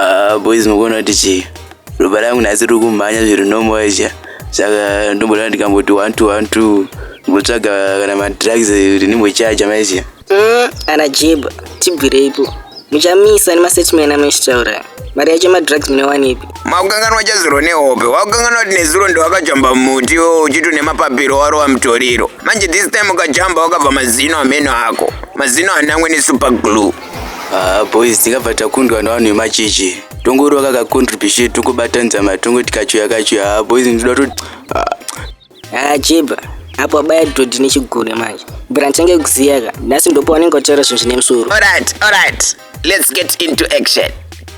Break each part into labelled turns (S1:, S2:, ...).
S1: Ah, boys mukuona kuti chii ropa rangu nhasi riri kumhanya zviri normal izha saka ndomboda ndikamboti one two one two ndimbotsvaga kana madrugs ndimbochaja maizha Mm, ana
S2: jib tibvireipo muchamisa nemasetman amunochitaura mari yacho madrugs munowanepi makukanganwa chazuro
S3: nehope wakukanganwa kuti nezuro ndewakajamba muti iwo uchito nemapapiro warova mutoriro manje this time ukajamba wakabva mazino ameno ako mazino anangwe nesuper glue Ah, boys
S1: tikabva takundwa navanhu vemachechi tongorova kakacontribution tongobatanidza matongo tikachoya kachoya ah, boys ndinoda kuti ah, Ah,
S2: Jeba, apo abaya dhodhi nechigure manje. Bra ndichange kuziya ka. Nhasi ndopa unenge wataura zvinhu zvine musoro. Alright, alright.
S3: Let's get into action.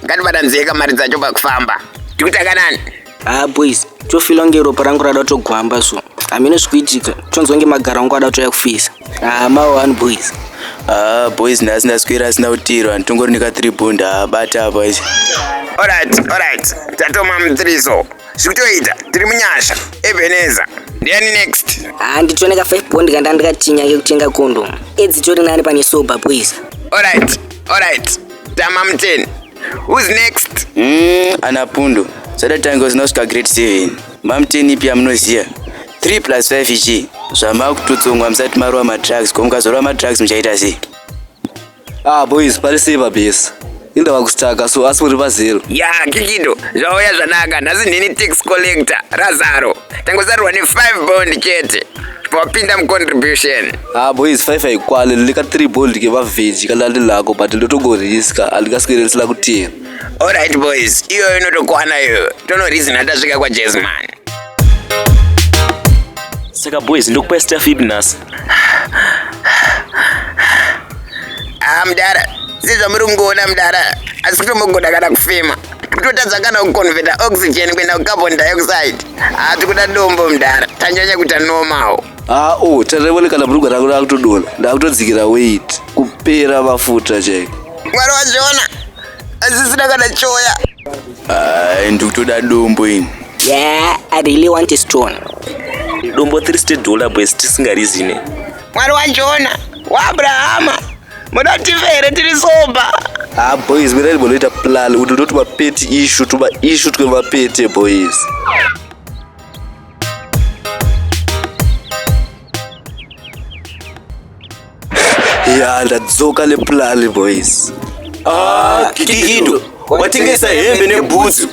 S3: Ngatibatanzei kamari dzacho pakufamba. Tikutanga nani? Ah boys,
S2: tofila kunge ropa rangu rada kutogwamba so. Hameno zvikuitika, tonzwa kunge magaro angu ada kutouya kufisa. Ah, mawa wani boys. Ah, boys
S1: nhasi ndaswera asina kutirwa nditongori nika 3 bunda abata apa isi Alright,
S3: alright. Tatoma mutiriso. zvikutoita tiri munyasha ebeneza ndiani next handitone ka 5
S2: bond kanda ndikatinya kekutenga condom edzi tori nani pane sober boys alright alright
S3: tama muteni who's next mm, ana pundu
S1: sada tango zinosvika grade 7 mamuteni ipi yamunoziva 3 plus 5 ichi zvamakututsungwa musati marova madrugs ko mukazorova madrugs muchaita sei Ah
S4: boys pari sei babesa inda vakustaka so asi muri vazero ya kikido
S3: zvauya zvanaka nhasi ndini tax collector razaro tangozarurwa ne5 bond chete wapinda mucontribution ha boys five
S4: haikwani ndika three bold ke vavheji kana ndi lako but ndotogoriska andikaswere ndisina kutira allright boys
S3: iyoyo inotokwana iyoyo tonorizina tasvika kwajesman
S5: saka boys ndokupa staff ipi nhasi
S3: Ah, mdara sezvamuri kungoona mdara asi kutombogona kana kufema kutotadza kana kuconveta oxygen kuenda kucarbon dioxide haa tikuda dombo mdara tanyanya kuita normal haa o oh, tarevone
S4: kana brugwa rangu rakutodona ndakutodzikira weit kupera mafuta chaiko mwari wazviona
S3: azisina kana choya ah,
S1: ndikutoda dombo ini yeah i
S2: really want a stone dombo
S5: 30 dollar boys tisingarizine mwari wajona
S3: waabrahama muda tive here tiri soba ha ah, boys mirari
S4: munoita plan kuti ndoti mapeti ishu tuma ishu twe mapete boys ya ndadzoka neplani boys ah,
S1: kikikido watengesa hembe nebhutsu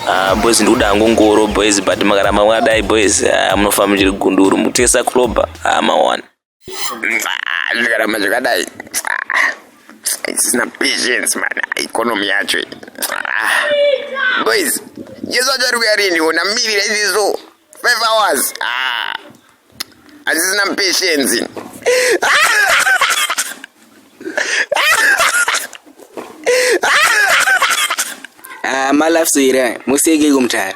S1: Ah, boys
S5: ndikuda hangu ngoro boys but makaramba mwadai boys ah, munofa muchiri gunduru mutesa kuloba ah, mawana
S3: zvikaramba zvakadai isina patience man economy yacho iyi. Ah. boys jesu achari kuya rini ona mirira iziso 5 hours ah. Hazvisina patience.
S2: Ah, malafso here museke kumtara